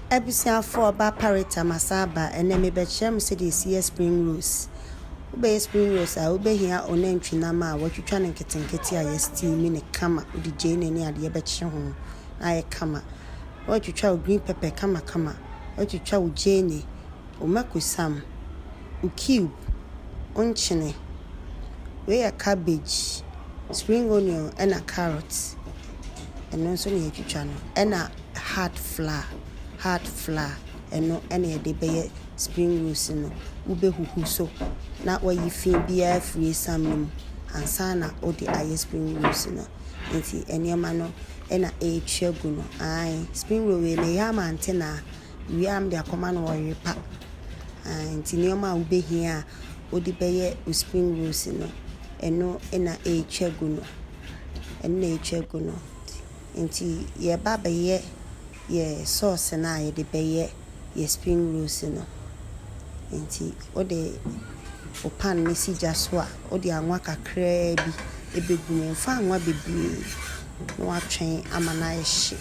Abusuafoɔ ba Parita masa aba ɛnɛ mebɛkyerɛ mo sɛdeɛ yɛsi yɛ spring rolls wobɛyɛ spring rolls a wobɛhia onantwi nam a watwitwa no nketenkete a yɛ steam ne kama wode gyeene ne adeɛ bɛkye ho na ayɛ kama watwitwa wo green pepper kama kama watwitwa wo gyeene wo mako sam wo cube wo nkyene wei yɛ cabbage spring onion ɛna carrot ɛno nso na yɛtwitwa no ɛna hard flour, hard flour, ɛno na yɛde bɛyɛ spring rolls no. Wobɛhuhu so na wayi fi biara afiri esiam no mu ansa na wode ayɛ spring rolls no. Nti nneɛma no na ɛretwa gu no. Ae, spring roll wei meyɛ ama Antenaa, wie a mede akɔma no ɔrepa. Ae, nti nneɛma a wobɛhia a wode bɛyɛ wo spring rolls no, ɛno na ɛretwa gu no. Ɛno na ɛretwa gu no. Nti yɛba bɛyɛ yɛ sauce no a yɛde bɛyɛ yɛ spring rolls no. Nti wode wo pan no si gya so a, wode anwa kakraa bi ɛbɛgu mu. Mfa anwa bebree na woatwɛn ama no ayɛ hye.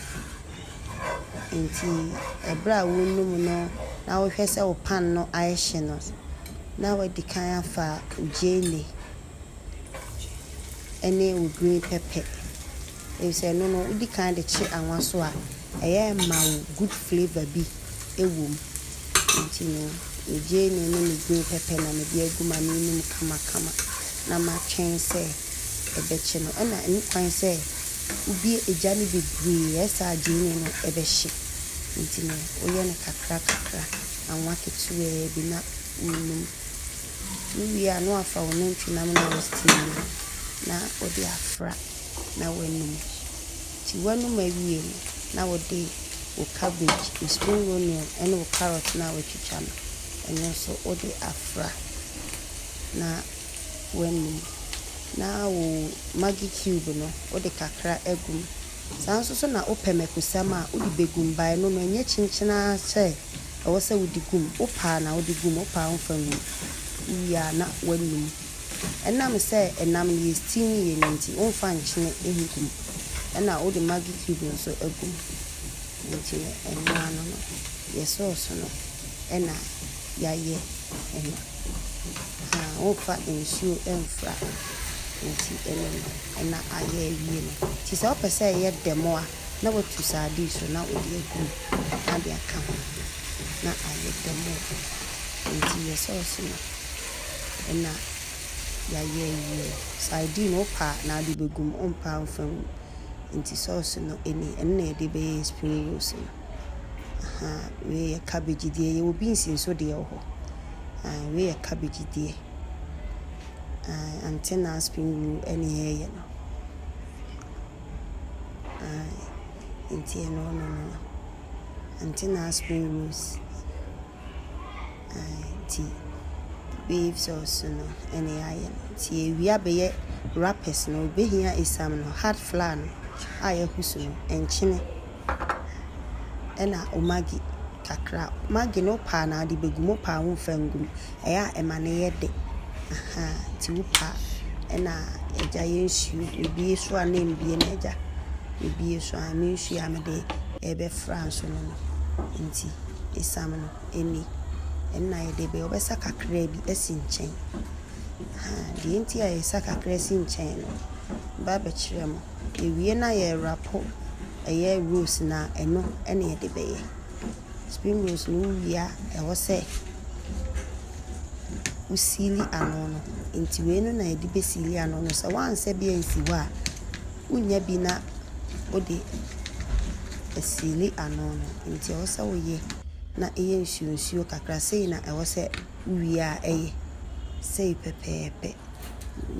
Nti ɛberɛ a wonu mu no na wohwɛ sɛ wo pan no ayɛ hye no, na wadi kan afa wo gyeene ne wo green pepper. efisɛ ɛno no wodi kan de kye anwa so a, ɛyɛ ma wo good flavour bi wɔ mu. Nti no, me gyeene ne me green pepper na mede agu ma no anum kamakama na matwɛn sɛ ɛbɛkye no. Ɛna ɛho kwan sɛ wobue egya no bebree a, ɛsa a gyeene no bɛhye. Nti no, woyɛ no kakra kakra, anwa ketewaa bi na wonum. Wowie a na woafa wo nantwinam no a wo steam no na wode afra. na woanom. Nti woanom awie no, na wode wo cabbage, wo spring onion ne wo carrot no a woatwitwa no, ɛno nso wode afra na woanom. Na wo maggi cube no, wode kakra agu mu. Saa ara nso so na wopɛ mako-sam a, wode bɛgu mu. But ɛno no, ɛnyɛ kyenkyen ara sɛ ɛwɔ sɛ wode gu mu. Wopɛ a na wode gu mu, wopɛ a womfa ngu mu. Wowie a na woanom. Ɛnam sɛ ɛnam no yɛ steam yie no nti womfa nkyene ngu mu ɛna wode maggi cube nso agu mu nti no ɛno ano no yɛ sauce no ɛna yɛayɛ ɛno haa womfa nsuo mfra nti ɛno no ɛna ayɛ awie no nti sɛ wopɛ sɛ ɛyɛ dɛ mo a na watu sardine so na wode agu mu na wode aka ho na ayɛ dɛ mo nti yɛ sauce no. na yayɛ yie. Sardine wo pɛ a na wode bɛgu mu, wo mpɛ a wo mfa ngu mu. Nti sɔɔse no ɛni, ɛno na yɛde bɛyɛɛ spring rolls no. Ahaa, wei yɛ cabbage deɛ, yɛwɔ beans nso deɛ wɔ hɔ. Ahaa, wei yɛ cabbage deɛ. Ahaa, ankyɛ na spring roll ɛne yɛɛyɛ no. Ahaa, nti ɛno no no no. Ankyɛ na spring rolls. Nti babes ɔɔso no ɛna yɛayɛ no nti yɛwie a bɛyɛ wrappers no wobɛhia asiam no hard flour no a yɛahusu no nkyene ɛna wo maggi kakra maggi no wopɛ a na wode bɛgu mu wopɛ a womfa ngu mu ɛyɛ a ɛma no yɛ de nti wopɛ a ɛna agya yɛ nsuo mebue so a na ɛmbue no agya mebue so a me nsuo a mede ɛɛbɛfra nso no no nti. esiam no ani. Ɛna yɛde bɛ wɔbɛsa kakra bi asi nkyɛn. Ahaa, deɛ enti a yɛsa kakra asi nkyɛn no, mɛba abɛkyerɛ mo. Yɛwie no a, yɛrapo ɛyɛ rose no a, ɛno ɛna yɛde bɛyɛ. Spring rose no wowie a, ɛwɔ sɛ wosiili ano no. Nti wei no na yɛde bɛsiili ano no. Sɛ woansɛ bi ansi hɔ a. Wonya bi na wode asiili ano no, nti ɛwɔ sɛ woyɛ na ɛyɛ nsuo nsuo kakra. Sei na ɛwɔ sɛ wowie a ɛyɛ, sei pɛpɛɛpɛ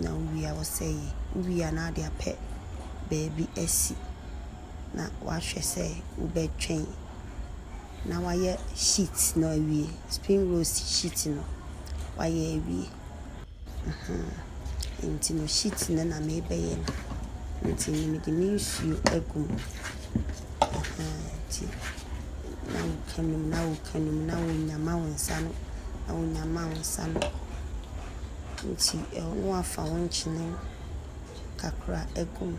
na wowie a ɛwɔ sɛ ɛyɛ. Wowie a na wode apɛ baabi asi na woahwɛ sɛ wobɛtwɛn. na wayɛ sheet no awie, spring rolls sheet no wayɛ awie. Nti no sheet no na mebɛyɛ no, nti no mede me nsuo agu mu nti na woka no mu, na woka no mu, na wonyama wo nsa ano, na wonyama wo nsa ano, nti na wafa wo nkyene kakra gu mu.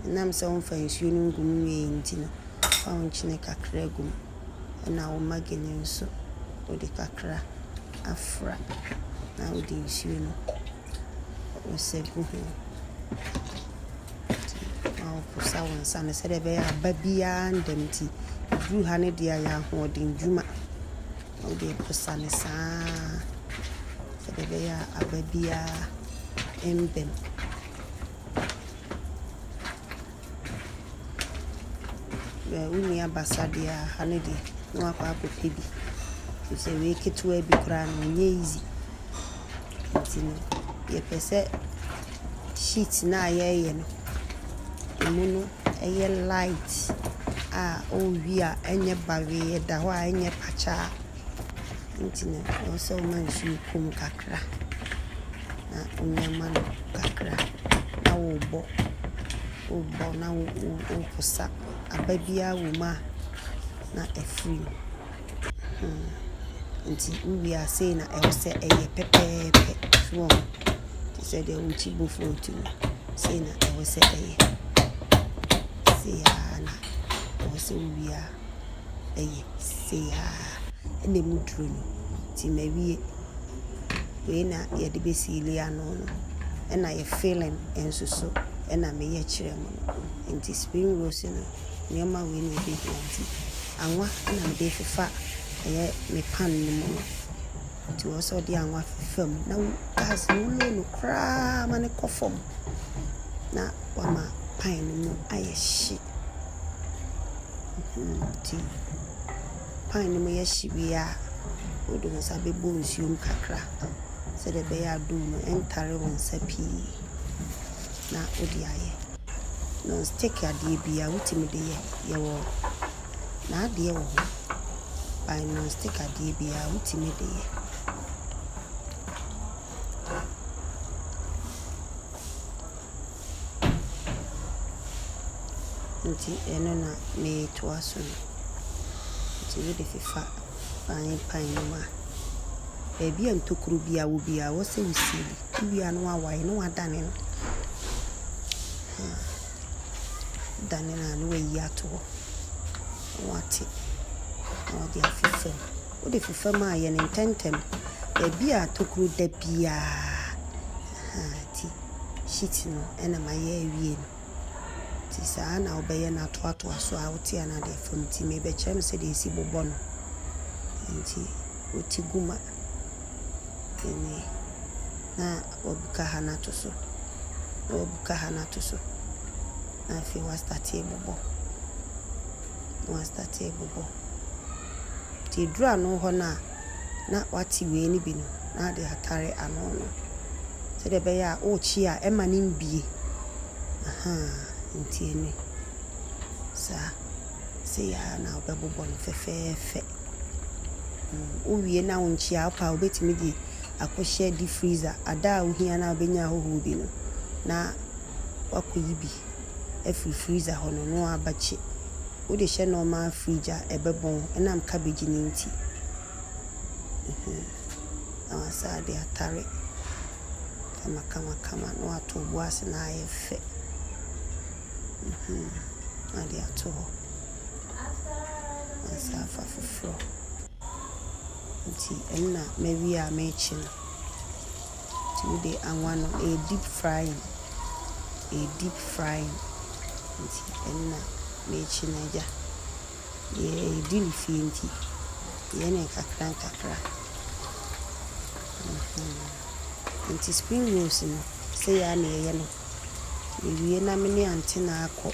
Ɛnam sɛ womfa nsuo no ngu mu yie nti no, fa wo nkyene kakra gu mu, ɛnna wo magi no nso, wode kakra afra, na wode nsuo no asɛ gu ho. Nti na woposa wo nsa no sɛdeɛ ɛbɛyɛ a aba biara renda mu nti, ɛduru ha no deɛ ayɛ ahoɔdennwuma. na wode posa no saa sɛdeɛ ɛbɛyɛ a aba biara mmam. Bɛ wonni abasa deɛ a, ha no deɛ na wakɔ akɔpɛ bi. Ɛfiri sɛ wei ketewa bi koraa no, ɛnyɛ easy. Nti no, yɛpɛ sɛ sheet no a yɛreyɛ no, ɛmu no yɛ light a wowie a ɛnyɛ bawee, ɛda hɔ a ɛnyɛ pakyaa. Nti no, ɛwɔ sɛ woma nsuo kɔ mu kakra na wonwama no kakra na wobɔ, wobɔ na wo wo woposa. Aba biara wɔ mu a na afiri mu. Nti wo wie a sei na ɛwɔ sɛ ɛyɛ pɛpɛɛpɛ so wɔn te sɛ deɛ wo kyi bofuo ti no sei na ɛwɔ sɛ ɛyɛ sei aa na ɛwɔ sɛ wo wie a ɛyɛ sei aa ɛna ɛmu duro no nti ma wie wei na yɛde bɛ siili ano no ɛna yɛ filling nso so ɛna me yɛ kyerɛ mo no nti spring rolls no nneɛma wei na ɛbɛhia nti. Anwa na mede refifa ɛyɛ me pan no mu no. Nti wɔ sɛ ɔde anwa fifa mu na gas no wo low no koraa ma no kɔ fam na wama pan no mu ayɛ hye. Nti pan no mu yɛ hye wie a, wode wo nsa bɛbɔ nsuo mu kakra sɛdeɛ ɛbɛyɛ a dough no ɛntare wo nsa pii na wode ayɛ. Non stick adeɛ biaa wotumi de yɛ, yɛwɔ n'adeɛ wɔ hɔ by non stick adeɛ biaa wotumi de yɛ. Nti ɛno na metoa so no, nti wode fefa pan pan no mu a, baabi a ntokuro biaa wɔ biaa wɔ sɛ wo seal. Wia no awae na wadane no. Wadane no a na wayi ato hɔ na wate na ɔde afi fam. Wode fi fam a, yɛ no ntɛmntɛm. Baabi a tokuro da biara ahaa nti sheet no na mayɛ awie no. Nti saa ara na wobɛyɛ no atoatoa so ara wote a na wode afam. Nti merebɛkyerɛ no sɛdeɛ yɛsi bobɔ no. Nti woti gu ma. Ɛnni. Na wabuka ha no ato so, na wabuka ha no ato so, na afei wastate abobɔ, na wastate abobɔ. Nti ɛduru ano hɔ no a, na wate wei no bi no, na ade atare ano no sɛdeɛ ɛbɛyɛ a worekye a ɛmma no mbue. Ahaa, nti ɛnni. Saa. Sei ara na wobɛbobɔ no fɛfɛɛfɛ. Wowie na wonkyea a, wopɛ a wobɛtumi de akɔhyɛ deep freezer. Ada a wohia no a wobɛnya ahɔhoɔ bi no, na woakɔyi bi afiri freezer hɔ no na woabɛkye. Wode hyɛ normal fridge a, ɛbɛbɔn ɛnam cabbage no nti. Na woasan de atare kamakamakama na woato bo ase na ayɛ fɛ na wode ato hɔ. ansa afa foforɔ. Nti nna mawie a merekye no. Nti wode anwa no ɛyɛ deep frying, ɛyɛ deep frying. Nti nna merekye no agya. Yɛdi no fie nti yɛyɛ no nkakra nkakra. Nti spring rolls no sei ara na yɛyɛ no. Mewie na me ne Antenna akɔ.